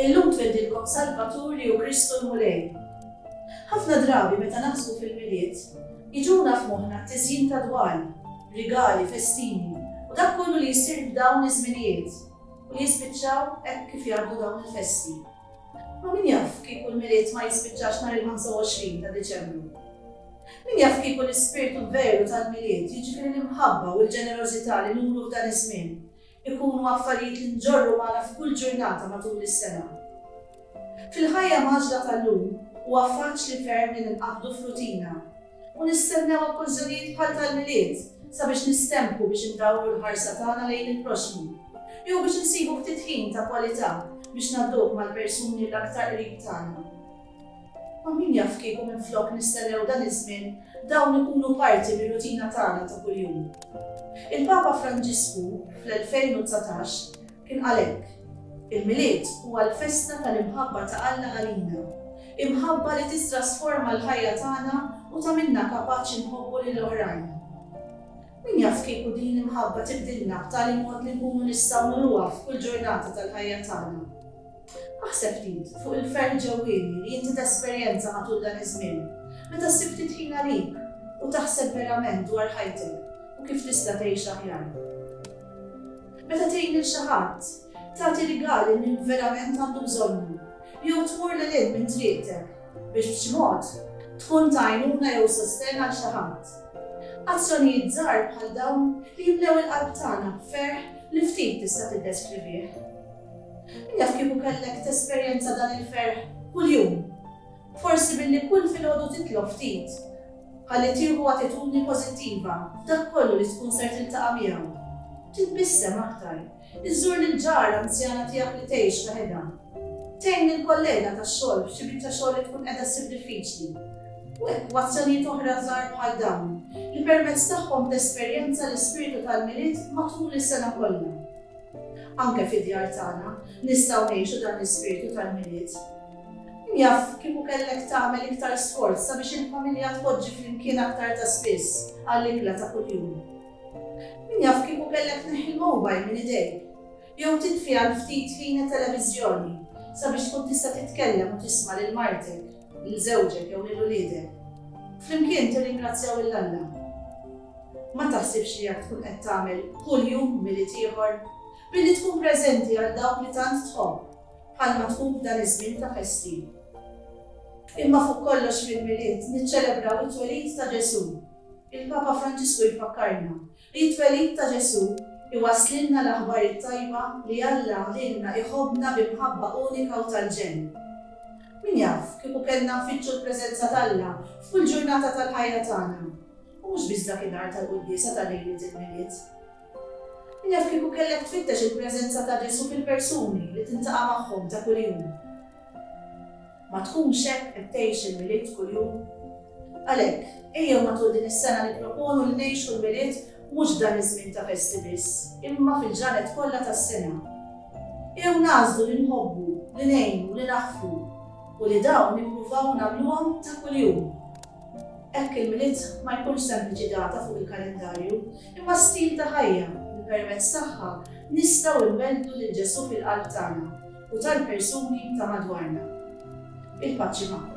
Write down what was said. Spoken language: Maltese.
Illum twildilkom Salvatur li hu Kristu l-Mulej. Ħafna drabi meta naħsbu fil-milied, iġuna f'moħħna t-tiżjin ta' dwal, rigali, festini, u dak kollu li jsir f'dawn iż-żminijiet, u li jispiċċaw hekk kif jgħaddu dawn il-festi. Ma min jaf kieku l-Milied ma jispiċċax nhar il-25 ta' Diċembru? Min jaf kieku l-ispirtu veru tal-Milied, jiġifieri l-imħabba u l-ġenerożità li nuru f'dan iż-żmien, ikunu affarijiet li nġorru magħna f'kull ġurnata matul is-sena? Fil-ħajja mgħaġġla tal-lum, huwa faċli ferm li ninqabdu f'rutina. U nistennew okkużżjonijiet bħal tal-Milied sabiex nistemphu biex indawru l-ħarsa tagħna lejn il-proxxmu. Jew biex insibu ftit ħin ta' kwalità biex ngħadduh mal-persuni l-aktar qrib tagħna. Ma min jaf kieku minflok nistennew dan iż-żmien dawn ikunu parti mir-rutina tagħna ta' kuljum. Il-Papa Franġisku, fl-2019, Kien qal hekk, Il-Milied huwa l-festa tal-imħabba ta' Alla għalina, imħabba li tittrasforma l-ħajja tagħna u tagħmilna kapaċi nħobbu lil oħrajn. Min jaf kieku din l-imħabba tibdilna b'tali mod li nkunu nistgħu nuruha f'kull ġurnata tal-ħajja tagħna? Aħseb ftit fuq il-ferħ ġewwieni li inti tesperjenza matul dan iż-żmien meta ssib ftit ħin għalik u taħseb verament dwar ħajtek u kif tista' tgħix aħjar. Meta tgħin lil xi ħadd, tagħti rigal lil min verament għandu bżonnu, jew tmur lil hinn minn triqtek biex b'xi mod tkun ta' għajnuna jew sostenn għal xi ħadd. Azzjonijiet żgħar bħal dawn li jimlew il-qalb tagħna b'ferħ li ftit tista' tiddeskrivih. Min jaf kieku kellek tesperjenza dan il-ferħ kuljum? Forsi billi kull filgħodu titlob ftit ħalli tieħu attitudni pożittiva f'dak kollu li tkun ser tiltaqa' miegħu. Titbissem aktar. Iżżur lill-ġara anzjana tiegħek li tgħix waħedha. Tgħin lill-kollega tax-xogħol f'xi biċċa xogħol li tkun qiegħda ssib diffiċli. U hekk, b'azzjonijiet oħra żgħar bħal dawn, li permezz tagħhom tesperjenza l-ispirtu tal-Milied matul is-sena kollha. Anke fid-djar tagħna nistgħu ngħixu dan l-ispirtu tal-Milied. Jaf, kieku kellek tagħmel iktar sforz sabiex il-familja tpoġġi flimkien aktar ta' spiss għall-ikla ta' kuljum. Min jaf kieku kellek tneħħi l-mowbajl minn idejk, jew titfi għal ftit ħin it-televiżjoni sabiex tkun tista' titkellem u tisma' lil martek, lil żewġek jew lil uliedek. Flimkien tirringrazzjaw lil Alla. Ma taħsibx li jekk tkun qed tagħmel kuljum milied ieħor, billi tkun preżenti għal dawk li tant tħobb, bħalma tkun f'dan iż-żmien ta' festi. Imma fuq kollox fil-Milied niċċelebraw it-twelid ta' Ġesù. Il-Papa Franġisku jfakkarna li t-twelid ta' Ġesù iwasslilna l-aħbar it-tajba li Alla lilna iħobbna bi mħabba unika u tal-ġenn. Min jaf, kieku kellna nfittxu l-preżenza t'Alla f'kull ġurnata tal-ħajja tagħna, u mhux biss dakinhar tal-quddiesa ta' lejliet il-Milied. Naf kieku kellek tfittex il-preżenza ta' Ġesù fil-persuni li tintaqa' magħhom ta' kuljum. Ma tkunx hekk qed tgħix il-Milied kuljum? Għalhekk, ejjew matul din is-sena nipproponu li ngħixu l-Milied mhux f'dan iż-żmien ta' festi biss, imma fil-ġranet kollha tas-sena. Ejjew nagħżlu li nħobbu, li ngħinu, li naħfru, u li dawn nippruvaw nagħmluhom ta' kuljum. Hekk il-Milied ma jkunx sempliċi data fuq il-kalendarju, imma stil ta' ħajja li permezz tagħha nistgħu nwelldu lil Ġesù fil-qalb tagħna u tal-persuni ta' madwarna. Il-paċi magħkom.